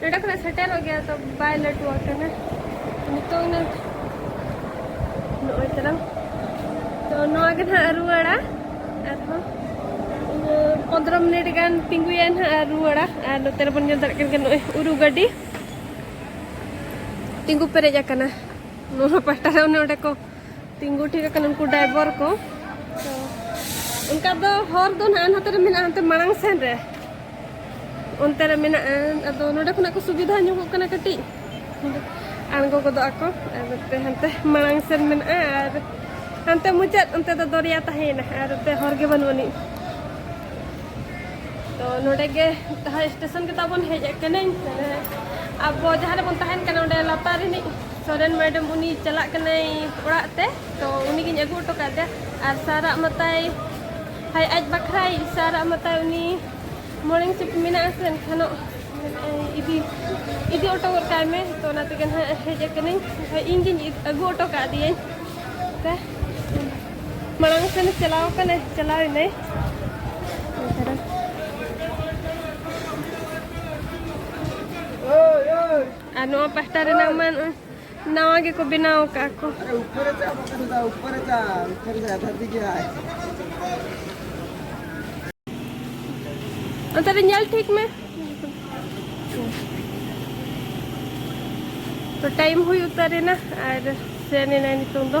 ᱱᱚᱰᱮ ᱠᱷᱚᱱᱟᱜ ᱥᱮᱴᱮᱨᱚᱜ ᱜᱮᱭᱟ ᱛᱚ ᱵᱟᱭ ᱞᱟᱹᱴᱩ ᱟᱠᱟᱱᱟ ᱱᱤᱛᱚᱜ ᱱᱟᱜ ᱱᱚᱜᱼᱚᱭ ᱛᱟᱞᱟᱝ ᱛᱚ ᱱᱚᱣᱟ ᱜᱮ ᱱᱟᱜ ᱨᱩᱣᱟᱹᱲᱟ ᱟᱨᱦᱚᱸ ᱯᱚᱱᱫᱨᱚ ᱢᱤᱱᱤᱴ ᱜᱟᱱ ᱛᱤᱸᱜᱩᱭᱟ ᱱᱟᱜ ᱟᱨ ᱨᱩᱣᱟᱹᱲᱟ ᱟᱨ ᱱᱚᱛᱮ ᱨᱮᱵᱚᱱ ᱧᱮᱞ ᱫᱟᱲᱮᱭᱟᱜ ᱠᱟᱱ ᱜᱮᱭᱟ ᱱᱚᱜᱼᱚᱭ ᱩᱨᱩ ᱜᱟᱹᱰᱤ ᱛᱤᱸᱜᱩ ᱯᱮᱨᱮᱡ ᱟᱠᱟᱱᱟ ᱱᱚᱣᱟ ᱯᱟᱦᱴᱟ ᱨᱮ ᱚᱱᱮ ᱚᱸᱰᱮ ᱠᱚ ᱛᱤᱸᱜᱩ ᱴᱷᱤᱠ ᱟᱠᱟᱱᱟ ᱩᱱᱠᱩ ᱰᱨᱟᱭᱵᱷᱟᱨ ᱠᱚ ᱚᱱᱠᱟ ᱫᱚ ᱦᱚᱨ ᱫᱚ ᱱᱟᱦᱟᱜ ᱱᱟᱛᱮ ᱨᱮ ᱢᱮᱱᱟᱜᱼᱟ ᱚᱱᱛᱮ ᱢᱟᱲᱟᱝ ᱥᱮᱱ ᱨᱮ ᱚᱱᱛᱮ ᱨᱮ ᱢᱮᱱᱟᱜᱼᱟ ᱟᱫᱚ ᱱᱚᱰᱮ ᱠᱷᱚᱱᱟᱜ ᱠᱚ ᱥᱩᱵᱤᱫᱷᱟ ᱧᱚᱜᱚᱜ ᱠᱟᱱᱟ ᱠᱟᱹᱴᱤᱡ ᱟᱬᱜᱚ ᱜᱚᱫᱚᱜ ᱟᱠᱚ ᱟᱨ ᱱᱚᱛᱮ ᱦᱟᱱᱛᱮ ᱢᱟᱲᱟᱝ ᱥᱮᱱ ᱢᱮᱱᱟᱜᱼᱟ ᱟᱨ ᱦᱟᱱᱛᱮ ᱢᱩᱪᱟᱹᱫ ᱚᱱᱛᱮ ᱫᱚ ᱫᱚᱨᱭᱟ ᱛᱟᱦᱮᱸᱭᱮᱱᱟ ᱟᱨ ᱱᱚᱛᱮ ᱦᱚᱨ ᱜᱮ ᱵᱟᱹᱱᱩᱜ ᱟᱹᱱᱤᱡ ᱛᱚ ᱱᱚᱰᱮ ᱜᱮ ᱛᱟᱦᱮᱸ ᱥᱴᱮᱥᱚᱱ ᱜᱮ ᱛᱟᱵᱚᱱ ᱦᱮᱡ ᱟᱠᱟᱱᱟᱹᱧ ᱟᱵᱚ ᱡᱟᱦᱟᱸ ᱨᱮᱵᱚᱱ ᱛᱟᱦᱮᱱ ᱠᱟᱱᱟ ᱚᱸᱰᱮ ᱞᱟᱛᱟᱨ ᱨᱤᱱᱤᱡ ᱥᱚᱨᱮᱱ ᱢᱮᱰᱟᱢ ᱩᱱᱤ ᱪᱟᱞᱟᱜ ᱠᱟᱱᱟᱭ ᱚᱲᱟᱜ ᱛᱮ ᱛᱚ ᱩᱱᱤ ᱜᱤᱧ ᱟᱹᱜᱩ ᱦᱚᱴᱚ ᱠᱟᱫᱮᱭᱟ ᱟᱨ ᱥᱟᱨᱟᱜ ᱢᱟᱛᱟᱭ ᱦᱟᱭ ᱟᱡ ᱵᱟᱠᱷᱨᱟᱭ ᱥᱟᱨᱟᱜ ᱢᱟᱛᱟᱭ ᱩᱱᱤ ᱢᱚᱨᱱᱤᱝ ᱥᱤᱯᱴ ᱢᱮᱱᱟᱜ ᱟᱥᱮ ᱮᱱᱠᱷᱟᱱ ᱤᱫᱤ ᱤᱫᱤ ᱦᱚᱴᱚ ᱜᱚᱫ ᱠᱟᱭ ᱢᱮ ᱛᱚ ᱚᱱᱟ ᱛᱮᱜᱮ ᱱᱟᱦᱟᱜ ᱦᱮᱡ ᱟᱠᱟᱱᱟᱹᱧ ᱮᱱᱠᱷᱟᱱ ᱤᱧ ᱜᱤᱧ ᱟᱹᱜᱩ ᱦᱚᱴᱚ ᱠᱟᱫᱮᱭᱟᱹᱧ ᱛᱮ ᱢᱟᱲᱟᱝ ᱥᱮᱱ ᱪᱟᱞᱟᱣ ᱠᱟᱱᱟᱭ ᱪᱟᱞᱟᱣ ᱮᱱᱟᱭ ᱟᱨ ᱱᱚᱣᱟ ᱯᱟᱦᱴᱟ ᱨᱮᱱᱟᱜ ᱢᱟ ᱱᱟᱣᱟ ᱜᱮᱠᱚ ᱵᱮᱱᱟᱣ ᱟᱠᱟᱫ ᱠᱚ ᱚᱱᱛᱮ ᱨᱮ ᱧᱮᱞ ᱴᱷᱤᱠ ᱢᱮ ᱛᱚ ᱴᱟᱭᱤᱢ ᱦᱩᱭ ᱩᱛᱟᱹᱨᱮᱱᱟ ᱟᱨ ᱥᱮᱱ ᱮᱱᱟᱭ ᱱᱤᱛᱚᱝ ᱫᱚ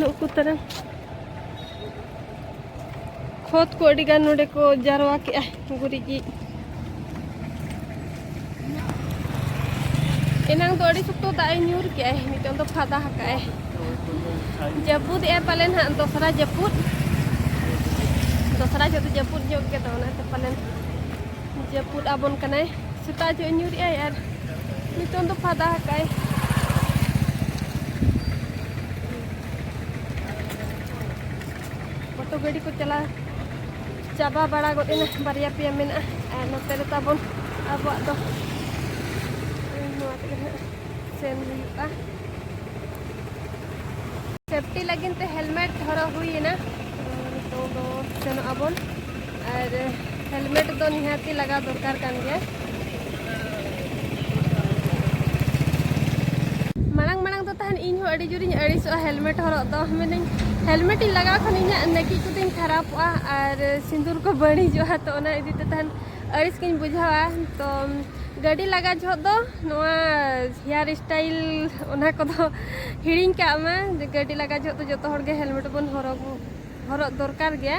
ᱱᱩᱜ ᱠᱚ ᱛᱟᱨᱟ ᱠᱷᱚᱛ ᱠᱚ ᱟᱹᱰᱤ ᱜᱟᱱ ᱱᱚᱰᱮ ᱠᱚ ᱡᱟᱨᱣᱟ ᱠᱮᱜᱼᱟ ᱜᱩᱨᱤᱡ ᱮᱱᱟᱝ ᱫᱚ ᱟᱹᱰᱤ ᱥᱚᱠᱛᱚ ᱫᱟᱜ ᱮ ᱧᱩᱨ ᱠᱮᱜᱼᱟᱭ ᱱᱤᱛᱚᱝ ᱫᱚ ᱯᱷᱟᱫᱟ ᱦᱟᱠᱟᱜᱼᱟᱭ ᱡᱟᱹᱯᱩᱫ ᱮ ᱯᱟᱞᱮᱱ ᱦᱟᱸᱜ ᱫᱚᱥᱨᱟ ᱡᱟᱹᱯᱩᱫ ᱫᱚᱥᱨᱟ ᱡᱚᱛᱚ ᱡᱟᱹᱯᱩᱫ ᱧᱚᱜ ᱜᱮ ᱛᱟᱵᱚᱱᱟ ᱛᱚ ᱯᱟᱞᱮᱱ ᱡᱟᱹᱯᱩᱫ ᱟᱵᱚᱱ ᱠᱟᱱᱟᱭ ᱥᱮᱛᱟᱜ ᱡᱚᱜ ᱧᱩᱨᱮᱜ ᱟᱭ ᱟᱨ ᱱᱤᱛᱚᱝ ᱫᱚ ᱯᱷᱟᱫᱟ ᱟᱠᱟᱭ ᱚᱴᱳ ᱜᱟᱹᱰᱤ ᱠᱚ ᱪᱟᱞᱟᱣ ᱪᱟᱵᱟ ᱵᱟᱲᱟ ᱜᱚᱫ ᱮᱱᱟ ᱵᱟᱨᱭᱟ ᱯᱮᱭᱟ ᱢᱮᱱᱟᱜᱼᱟ ᱟᱨ ᱱᱚᱛᱮ ᱨᱮ ᱛᱟᱵᱚᱱ ᱟᱵᱚᱣᱟᱜ ᱫᱚ ᱱᱚᱣᱟ ᱛᱮᱜᱮ ᱦᱟᱸᱜ ᱥᱮᱱ ᱦᱩᱭᱩᱜᱼᱟ ᱥᱮᱯᱴᱤ ᱞᱟᱹᱜᱤᱫ ᱛᱮ ᱦᱮᱞᱢᱮᱴ ᱦᱚᱨᱚᱜ ᱦᱩᱭᱮᱱᱟ ᱱᱤᱛᱚᱝ ᱫᱚ ᱥᱮᱱᱚᱜ ᱟᱵᱚᱱ ᱟᱨ ᱦᱮᱞᱢᱮᱴ ᱫᱚ ᱱᱤᱦᱟᱹᱛᱤ ᱞᱟᱜᱟᱣ ᱫᱚᱨᱠᱟᱨ ᱠᱟᱱ ᱜᱮᱭᱟ ᱢᱟᱲᱟᱝ ᱢᱟᱲᱟᱝ ᱫᱚ ᱛᱟᱦᱮᱱ ᱤᱧ ᱦᱚᱸ ᱟᱹᱰᱤ ᱡᱳᱨᱤᱧ ᱟᱹᱲᱤᱥᱚᱜᱼᱟ ᱦᱮᱞᱢᱮᱴ ᱦᱚᱨᱚᱜ ᱫᱚ ᱢᱮᱱᱟᱹᱧ ᱦᱮᱞᱢᱮᱴ ᱤᱧ ᱞᱟᱜᱟᱣ ᱠᱷᱟᱱ ᱤᱧᱟᱹᱜ ᱱᱟᱹᱠᱤᱡ ᱠᱚᱫᱚᱧ ᱠᱷᱟᱨᱟᱯᱚᱜᱼᱟ ᱟᱨ ᱥᱤᱸᱫᱩᱨ ᱠᱚ ᱵᱟᱹᱲᱤᱡᱚᱜᱼᱟ ᱛᱚ ᱚᱱᱟ ᱤᱫᱤ ᱛᱮ ᱛᱟᱦᱮᱱ ᱟᱹᱲᱤᱥ ᱜᱤᱧ ᱵᱩᱡᱷᱟᱹᱣᱟ ᱛᱚ ᱜᱟᱹᱰᱤ ᱞᱟᱜᱟ ᱡᱚᱦᱚᱜ ᱫᱚ ᱱᱚᱣᱟ ᱦᱮᱭᱟᱨ ᱥᱴᱟᱭᱤᱞ ᱚᱱᱟ ᱠᱚᱫᱚ ᱦᱤᱲᱤᱧ ᱠᱟᱜ ᱢᱟ ᱜᱟᱹᱰᱤ ᱞᱟᱜᱟ ᱡᱚᱦᱚᱜ ᱫᱚ ᱡᱚᱛᱚ ᱦᱚᱲ ᱜᱮ ᱦᱮᱞᱢᱮᱴ ᱵᱚᱱ ᱦᱚᱨᱚᱜ ᱦᱚᱨᱚᱜ ᱫᱚᱨᱠᱟᱨ ᱜᱮᱭᱟ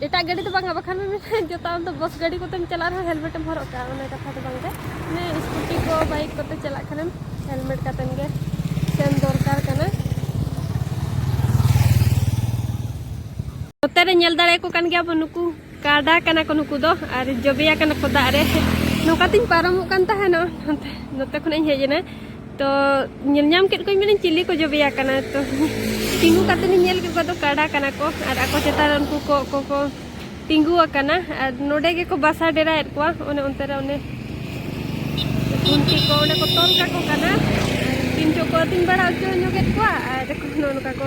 ᱮᱴᱟᱜ ᱜᱟᱹᱰᱤ ᱫᱚ ᱵᱟᱝᱟ ᱵᱟᱠᱷᱟᱱ ᱵᱤᱱ ᱢᱮᱱᱟ ᱡᱚᱛᱚ ᱟᱢ ᱫᱚ ᱵᱚᱥ ᱜᱟᱹᱰᱤ ᱠᱚᱛᱮᱢ ᱪᱟᱞᱟᱜ ᱨᱮᱦᱚᱸ ᱦᱮᱞᱢᱮᱴ ᱮᱢ ᱦᱚᱨᱚᱜ ᱠᱟᱜᱼᱟ ᱚᱱᱟ ᱠᱟᱛᱷᱟ ᱫᱚ ᱵᱟᱝᱜᱮ ᱢᱟᱱᱮ ᱥᱠᱩᱴᱤ ᱠᱚ ᱵᱟᱭᱤᱠ ᱠᱚᱛᱮ ᱪᱟᱞᱟᱜ ᱠᱷᱟᱱᱮᱢ ᱦᱮᱞᱢᱮᱴ ᱠᱟᱛᱮᱱ ᱜᱮ ᱥᱮᱱ ᱫᱚᱨᱠᱟᱨ ᱠᱟᱱᱟ ᱱᱚᱛᱮ ᱨᱮ ᱧᱮᱞ ᱫᱟᱲᱮᱭᱟᱠᱚ ᱠᱟᱱ ᱜᱮᱭᱟ ᱵᱚᱱ ᱱᱩᱠᱩ ᱠᱟᱰᱟ ᱠᱟᱱᱟ ᱠᱚ ᱱᱩᱠᱩ ᱫᱚ ᱟᱨ ᱡᱚᱵᱮᱭᱟ ᱠᱟᱱᱟ ᱠᱚ ᱫᱟᱜ ᱨᱮ ᱱᱚᱝᱠᱟ ᱛᱤᱧ ᱯᱟᱨᱚᱢᱚᱜ ᱠᱟᱱ ᱛᱟᱦᱮᱱᱚᱜ ᱱᱚᱛᱮ ᱠᱷᱚᱱᱟᱜ ᱤᱧ ᱦᱮᱡ ᱮᱱᱟ ᱛᱚ ᱧᱮᱞ ᱧᱟᱢ ᱠᱮᱫ ᱠᱚᱣᱟᱧ ᱢᱮᱱᱟᱹᱧ ᱪᱤᱞᱤ ᱠᱚ ᱡᱚᱵᱮᱭᱟ ᱠᱟᱱᱟ ᱛᱚ ᱛᱤᱸᱜᱩ ᱠᱟᱛᱮ ᱤᱧ ᱧᱮᱞ ᱠᱮᱫ ᱠᱚᱣᱟ ᱫᱚ ᱠᱟᱰᱟ ᱠᱟᱱᱟ ᱠᱚ ᱟᱨ ᱟᱠᱚ ᱪᱮᱛᱟᱱ ᱨᱮ ᱩᱱᱠᱩ ᱠᱚᱜ ᱠᱚᱠᱚ ᱛᱤᱸᱜᱩ ᱟᱠᱟᱱᱟ ᱟᱨ ᱱᱚᱰᱮ ᱜᱮᱠᱚ ᱵᱟᱥᱟ ᱰᱮᱨᱟᱭᱮᱫ ᱠᱚᱣᱟ ᱚᱱᱮ ᱚᱱᱛᱮ ᱨᱮ ᱚᱱᱮ ᱩᱱᱠᱩ ᱠᱚ ᱚᱸᱰᱮ ᱠᱚ ᱛᱚᱞ ᱠᱟᱠᱚ ᱠᱟᱱᱟ ᱛᱤᱱ ᱪᱚᱠᱚ ᱟᱹᱛᱤᱧ ᱵᱟᱲᱟ ᱦᱚᱪᱚ ᱧᱚᱜᱮᱫ ᱠᱚᱣᱟ ᱟᱨ ᱱᱚᱜᱼᱚ ᱱᱚᱝᱠᱟ ᱠᱚ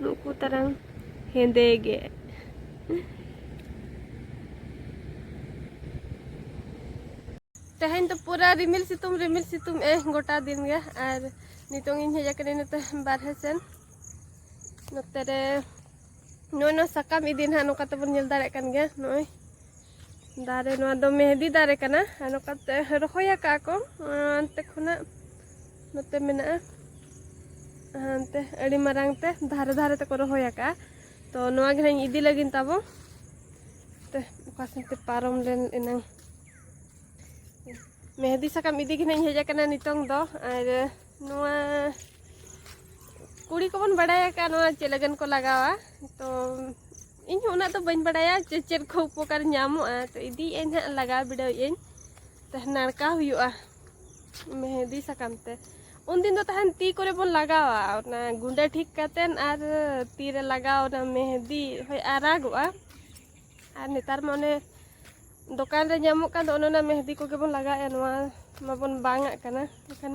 ᱱᱩᱠᱩ ᱛᱟᱨᱟᱝ ᱦᱮᱸᱫᱮ ᱜᱮ ᱛᱮᱦᱮᱧ ᱫᱚ ᱯᱩᱨᱟᱹ ᱨᱤᱢᱤᱞ ᱥᱤᱛᱩᱝ ᱨᱤᱢᱤᱞ ᱥᱤᱛᱩᱝ ᱮ ᱜᱚᱴᱟ ᱫᱤᱱ ᱜᱮ ᱟᱨ ᱱᱤᱛᱚᱝ ᱤᱧ ᱦᱮᱡ ᱟᱠᱟᱱᱟ ᱱᱚᱛᱮ ᱵᱟᱨᱦᱮ ᱥᱮᱱ ᱱᱚᱛᱮ ᱨᱮ ᱱᱚᱜᱼᱚᱭ ᱱᱚᱣᱟ ᱥᱟᱠᱟᱢ ᱤᱫᱤ ᱱᱟᱦᱟᱜ ᱱᱚᱝᱠᱟ ᱛᱮᱵᱚᱱ ᱧᱮᱞ ᱫᱟᱲᱮᱭᱟᱜ ᱠᱟᱱ ᱜᱮᱭᱟ ᱱᱚᱜᱼᱚᱭ ᱫᱟᱨᱮ ᱱᱚᱣᱟ ᱫᱚ ᱢᱮᱦᱫᱤ ᱫᱟᱨᱮ ᱠᱟᱱᱟ ᱟᱨ ᱱᱚᱝᱠᱟᱛᱮ ᱨᱚᱦᱚᱭ ᱟᱠᱟᱫ ᱠᱚ ᱚᱱᱛᱮ ᱠᱷᱚᱱᱟᱜ ᱱᱚᱛᱮ ᱢᱮᱱᱟᱜᱼᱟ ᱦᱟᱱᱛᱮ ᱟᱹᱰᱤ ᱢᱟᱨᱟᱝ ᱛᱮ ᱫᱷᱟᱨᱮ ᱫᱷᱟᱨᱮ ᱛᱮᱠᱚ ᱨᱚᱦᱚᱭ ᱟᱠᱟᱫᱼᱟ ᱛᱚ ᱱᱚᱣᱟ ᱜᱮ ᱦᱟᱸᱜ ᱤᱫᱤ ᱞᱟᱹᱜᱤᱫ ᱛᱟᱵᱚ ᱛᱮ ᱚᱠᱟ ᱥᱮᱱ ᱛᱮ ᱯᱟᱨᱚᱢ ᱞᱮᱱ ᱮᱱᱟᱝ ᱢᱮᱦᱫᱤ ᱥᱟᱠᱟᱢ ᱤᱫᱤ ᱜᱮ ᱦᱟᱸᱜ ᱦᱮᱡ ᱟᱠᱟᱱᱟ ᱱᱤᱛᱚᱝ ᱫᱚ ᱟᱨ ᱱᱚᱣᱟ ᱠᱩᱲᱤ ᱠᱚᱵᱚᱱ ᱵᱟᱲᱟᱭ ᱟᱠᱟᱫ ᱱᱚᱣᱟ ᱪᱮᱫ ᱞᱟᱹᱜᱤᱫ ᱠᱚ ᱞᱟᱜᱟᱣᱟ ᱛᱚ ᱤᱧ ᱦᱚᱸ ᱩᱱᱟᱹᱜ ᱫᱚ ᱵᱟᱹᱧ ᱵᱟᱲᱟᱭᱟ ᱪᱮᱫ ᱪᱮᱫ ᱠᱚ ᱩᱯᱚᱠᱟᱨ ᱧᱟᱢᱚᱜᱼᱟ ᱛᱚ ᱤᱫᱤᱭᱮᱫ ᱟᱹᱧ ᱦᱟᱸᱜ ᱞᱟᱜᱟᱣ ᱵᱤᱰᱟᱹᱣᱮᱫ ᱟᱹᱧ ᱛᱚ ᱱᱟᱲᱠᱟ ᱦᱩᱭᱩᱜᱼᱟ ᱢᱮᱦᱮᱫᱤ ᱥᱟᱠᱟᱢ ᱛᱮ ᱩᱱᱫᱤᱱ ᱫᱚ ᱛᱟᱦᱮᱱ ᱛᱤ ᱠᱚᱨᱮ ᱵᱚᱱ ᱞᱟᱜᱟᱣᱟ ᱚᱱᱟ ᱜᱩᱸᱰᱟᱹ ᱴᱷᱤᱠ ᱠᱟᱛᱮᱱ ᱟᱨ ᱛᱤ ᱨᱮ ᱞᱟᱜᱟᱣ ᱚᱱᱟ ᱢᱮᱦᱮᱫᱤ ᱦᱳᱭ ᱟᱨᱟᱜᱚᱜᱼᱟ ᱟᱨ ᱱᱮᱛᱟᱨ ᱢᱟ ᱚᱱᱮ ᱫᱚᱠᱟᱱ ᱨᱮ ᱧᱟᱢᱚᱜ ᱠᱟᱱ ᱫᱚ ᱚᱱᱮ ᱚᱱᱟ ᱢᱮᱦᱮᱫᱤ ᱠᱚᱜᱮ ᱵᱚᱱ ᱞᱟᱜᱟᱣᱮᱫᱼᱟ ᱱᱚᱣᱟ ᱢᱟᱵᱚᱱ ᱵᱟᱝᱟᱜ ᱠᱟᱱᱟ ᱮᱱᱠᱷᱟᱱ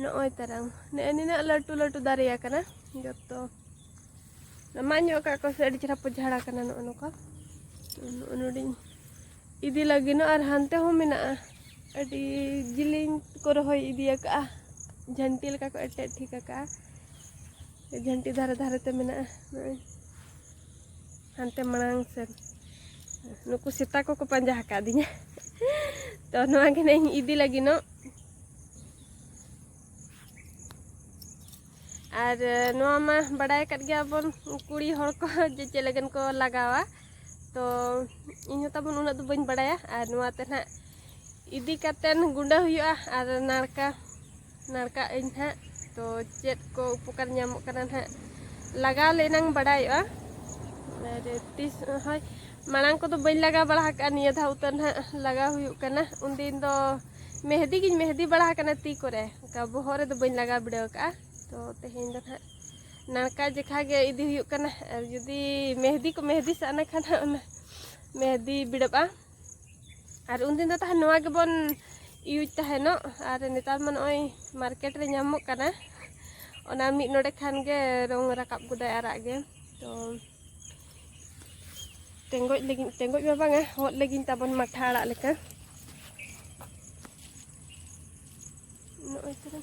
ᱱᱚᱜᱼᱚᱭ ᱛᱟᱨᱟᱝ ᱱᱮᱜᱼᱮ ᱱᱤᱱᱟᱹᱜ ᱞᱟᱹᱴᱩ ᱞᱟᱹᱴᱩ ᱫᱟᱨᱮ ᱟᱠᱟᱱᱟ ᱡᱚᱛᱚ ᱢᱟᱜ ᱧᱚᱜ ᱠᱟᱜ ᱠᱚ ᱥᱮ ᱟᱹᱰᱤ ᱪᱮᱦᱨᱟ ᱯᱚᱡᱷᱟᱲ ᱟᱠᱟᱱᱟ ᱱᱚᱜᱼᱚ ᱱᱚᱝᱠᱟ ᱱᱚᱜᱼᱚ ᱱᱚᱰᱮᱧ ᱤᱫᱤ ᱞᱟᱹᱜᱤᱫ ᱟᱨ ᱦᱟᱱᱛᱮ ᱦᱚᱸ ᱢᱮᱱᱟᱜᱼᱟ ᱟᱹᱰᱤ ᱡᱤᱞᱤᱧ ᱠᱚ ᱨᱚᱦᱚᱭ ᱤᱫᱤ ᱟᱠᱟᱜᱼᱟ ᱡᱷᱟᱹᱱᱴᱤ ᱞᱮᱠᱟ ᱠᱚ ᱮᱴᱮᱫ ᱴᱷᱤᱠ ᱟᱠᱟᱜᱼᱟ ᱡᱷᱟᱹᱱᱴᱤ ᱫᱷᱟᱨᱮ ᱫᱷᱟᱨᱮ ᱛᱮ ᱢᱮᱱᱟᱜᱼᱟ ᱱᱚᱜᱼᱚᱭ ᱦᱟᱱᱛᱮ ᱢᱟᱲᱟᱝ ᱥᱮᱫ ᱱᱩᱠᱩ ᱥᱮᱛᱟ ᱠᱚᱠᱚ ᱯᱟᱸᱡᱟ ᱟᱠᱟᱫᱤᱧᱟ ᱛᱚ ᱱᱚᱣᱟ ᱜᱮ ᱱᱟᱜ ᱤᱧ ᱤᱫᱤ ᱞᱟᱹᱜᱤᱫᱚᱜ ᱟᱨ ᱱᱚᱣᱟ ᱢᱟ ᱵᱟᱰᱟᱭ ᱟᱠᱟᱫ ᱜᱮᱭᱟᱵᱚᱱ ᱠᱩᱲᱤ ᱦᱚᱲ ᱠᱚ ᱡᱮ ᱪᱮᱫ ᱞᱟᱹᱜᱤᱫ ᱠᱚ ᱞᱟᱜᱟᱣᱟ ᱛᱚ ᱤᱧ ᱦᱚᱸ ᱛᱟᱵᱚᱱ ᱩᱱᱟᱹᱜ ᱫᱚ ᱵᱟᱹᱧ ᱵᱟᱲᱟᱭᱟ ᱟᱨ ᱱᱚᱣᱟ ᱛᱮ ᱱᱟᱜ ᱤᱫᱤ ᱠᱟᱛᱮᱱ ᱜᱩᱸᱰᱟᱹ ᱦᱩᱭᱩᱜᱼᱟ ᱟᱨ ᱱᱟᱲᱠᱟ ᱱᱟᱲᱠᱟᱜ ᱟᱹᱧ ᱦᱟᱸᱜ ᱛᱚ ᱪᱮᱫ ᱠᱚ ᱩᱯᱚᱠᱟᱨ ᱧᱟᱢᱚᱜ ᱠᱟᱱᱟ ᱦᱟᱸᱜ ᱞᱟᱜᱟᱣ ᱞᱮᱱᱟᱝ ᱵᱟᱰᱟᱭᱚᱜᱼᱟ ᱟᱨ ᱛᱤᱥ ᱦᱳᱭ ᱢᱟᱲᱟᱝ ᱠᱚᱫᱚ ᱵᱟᱹᱧ ᱞᱟᱜᱟᱣ ᱵᱟᱲᱟ ᱟᱠᱟᱫᱼᱟ ᱱᱤᱭᱟᱹ ᱫᱷᱟᱣ ᱩᱛᱟᱹᱨ ᱦᱟᱸᱜ ᱞᱟᱜᱟᱣ ᱦᱩᱭᱩᱜ ᱠᱟᱱᱟ ᱩᱱᱫᱤᱱ ᱫᱚ ᱢᱮᱦᱫᱤ ᱜᱤᱧ ᱢᱮᱦᱫᱤ ᱵᱟᱲᱟ ᱟᱠᱟᱱᱟ ᱛᱤ ᱠᱚᱨᱮ ᱚᱱᱠᱟ ᱵᱚᱦᱚᱜ ᱨᱮᱫᱚ ᱵᱟᱹᱧ ᱞᱟᱜᱟᱣ ᱵᱤᱰᱟᱹᱣ ᱟᱠᱟᱫᱼᱟ ᱛᱚ ᱛᱮᱦᱮᱧ ᱫᱚ ᱦᱟᱸᱜ ᱱᱟᱲᱠᱟ ᱡᱮᱠᱷᱟ ᱜᱮ ᱤᱫᱤ ᱦᱩᱭᱩᱜ ᱠᱟᱱᱟ ᱟᱨ ᱡᱩᱫᱤ ᱢᱮᱦᱫᱤ ᱠᱚ ᱢᱮᱦᱫᱤ ᱥᱟᱱᱟ ᱠᱷᱟᱱ ᱦᱟᱸᱜ ᱚᱱᱟ ᱢᱮᱦᱫᱤ ᱵᱤᱲᱟᱹᱜᱼᱟ ᱟᱨ ᱩᱱᱫᱤᱱ ᱫᱚ ᱛᱟᱦᱮᱸ ᱱᱚᱣᱟ ᱜᱮᱵᱚᱱ ᱤᱭᱩᱡᱽ ᱛᱟᱦᱮᱱᱚᱜ ᱟᱨ ᱱᱮᱛᱟᱨ ᱢᱟ ᱱᱚᱜᱼᱚᱭ ᱢᱟᱨᱠᱮᱴ ᱨᱮ ᱧᱟᱢᱚᱜ ᱠᱟᱱᱟ ᱚᱱᱟ ᱢᱤᱫ ᱱᱚᱰᱮ ᱠᱷᱟᱱ ᱜᱮ ᱨᱚᱝ ᱨᱟᱠᱟᱵ ᱜᱚᱫᱟᱭ ᱟᱨᱟᱜ ᱜᱮ ᱛᱚ ᱴᱮᱸᱜᱚᱡ ᱞᱟᱹᱜᱤᱫ ᱴᱮᱸᱜᱚᱡ ᱢᱟ ᱵᱟᱝᱟ ᱦᱚᱫ ᱞᱟᱹᱜᱤᱫ ᱛᱟᱵᱚᱱ ᱢᱟᱴᱷᱟ ᱟᱲᱟᱜ ᱞᱮᱠᱟ ᱱᱚᱜᱼᱚᱭ ᱛᱚᱨᱟ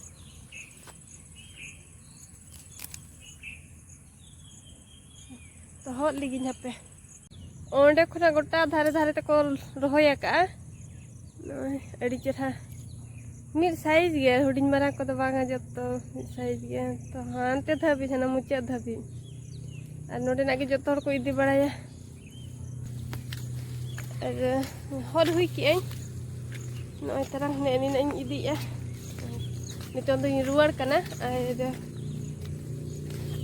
ᱛᱚᱦᱚᱫ ᱞᱤᱜᱤᱧ ᱦᱟᱯᱮ ᱚᱸᱰᱮ ᱠᱷᱚᱱᱟᱜ ᱜᱚᱴᱟ ᱫᱷᱟᱨᱮ ᱫᱷᱟᱨᱮ ᱛᱮᱠᱚ ᱨᱚᱦᱚᱭ ᱟᱠᱟᱜᱼᱟ ᱱᱚᱜᱼᱚᱭ ᱟᱹᱰᱤ ᱪᱮᱨᱦᱟ ᱢᱤᱫ ᱥᱟᱭᱤᱡᱽ ᱜᱮ ᱦᱩᱰᱤᱧ ᱢᱟᱨᱟᱝ ᱠᱚᱫᱚ ᱵᱟᱝᱟ ᱡᱚᱛᱚ ᱢᱤᱫ ᱥᱟᱭᱤᱡᱽ ᱜᱮ ᱛᱚ ᱦᱟᱱᱛᱮ ᱫᱷᱟᱹᱵᱤᱡ ᱦᱟᱱᱟ ᱢᱩᱪᱟᱹᱫ ᱫᱷᱟᱹᱵᱤᱡ ᱟᱨ ᱱᱚᱰᱮᱱᱟᱜ ᱜᱮ ᱡᱚᱛᱚ ᱦᱚᱲ ᱠᱚ ᱤᱫᱤ ᱵᱟᱲᱟᱭᱟ ᱟᱨ ᱦᱚᱞ ᱦᱩᱭ ᱠᱮᱜᱼᱟᱹᱧ ᱱᱚᱜᱼᱚᱭ ᱛᱟᱨᱟ ᱱᱮᱜᱼᱮ ᱱᱤᱱᱟᱹᱜ ᱤᱧ ᱤᱫᱤᱭᱮᱜᱼᱟ ᱱᱤᱛᱚᱝ ᱫᱚᱧ ᱨᱩᱣᱟᱹᱲ ᱠᱟᱱᱟ ᱟᱨ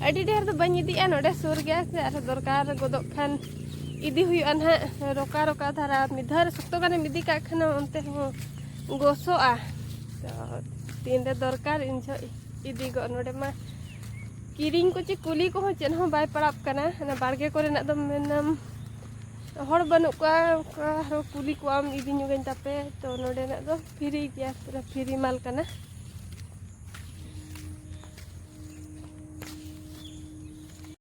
ᱟᱹᱰᱤ ᱰᱷᱮᱨ ᱫᱚ ᱵᱟᱹᱧ ᱤᱫᱤᱭᱮᱜᱼᱟ ᱱᱚᱰᱮ ᱥᱩᱨ ᱜᱮᱭᱟ ᱥᱮ ᱟᱨᱦᱚᱸ ᱫᱚᱨᱠᱟᱨ ᱜᱚᱫᱚᱜ ᱠᱷᱟᱱ ᱤᱫᱤ ᱦᱩᱭᱩᱜᱼᱟ ᱱᱟᱦᱟᱜ ᱨᱚᱠᱟ ᱨᱚᱠᱟ ᱫᱷᱟᱨᱟ ᱢᱤᱫ ᱫᱷᱟᱣ ᱨᱮ ᱥᱚᱠᱛᱚ ᱜᱟᱱᱮᱢ ᱤᱫᱤ ᱠᱟᱜ ᱠᱷᱟᱱ ᱚᱱᱛᱮ ᱦᱚᱸ ᱜᱚᱥᱚᱜᱼᱟ ᱛᱚ ᱛᱤᱱᱨᱮ ᱫᱚᱨᱠᱟᱨ ᱤᱧ ᱡᱚᱦᱚᱜ ᱤᱫᱤ ᱜᱚᱫ ᱱᱚᱰᱮ ᱢᱟ ᱠᱤᱨᱤᱧ ᱠᱚ ᱪᱮ ᱠᱩᱞᱤ ᱠᱚᱦᱚᱸ ᱪᱮᱫ ᱦᱚᱸ ᱵᱟᱭ ᱯᱟᱲᱟᱜ ᱠᱟᱱᱟ ᱚᱱᱟ ᱵᱟᱲᱜᱮ ᱠᱚᱨᱮᱱᱟᱜ ᱫᱚ ᱢᱮᱱᱟᱢ ᱦᱚᱲ ᱵᱟᱹᱱᱩᱜ ᱠᱚᱣᱟ ᱚᱱᱠᱟ ᱟᱨᱦᱚᱸ ᱠᱩᱞᱤ ᱠᱚᱣᱟᱢ ᱤᱫᱤ ᱧᱚᱜᱟᱹᱧ ᱛᱟᱯᱮ ᱛᱚ ᱱᱚᱰᱮᱱᱟᱜ ᱫᱚ ᱯᱷᱤᱨᱤ ᱜᱮᱭᱟ ᱯᱩᱨᱟᱹ ᱯᱷᱤᱨᱤ ᱢᱟᱞ ᱠᱟᱱᱟ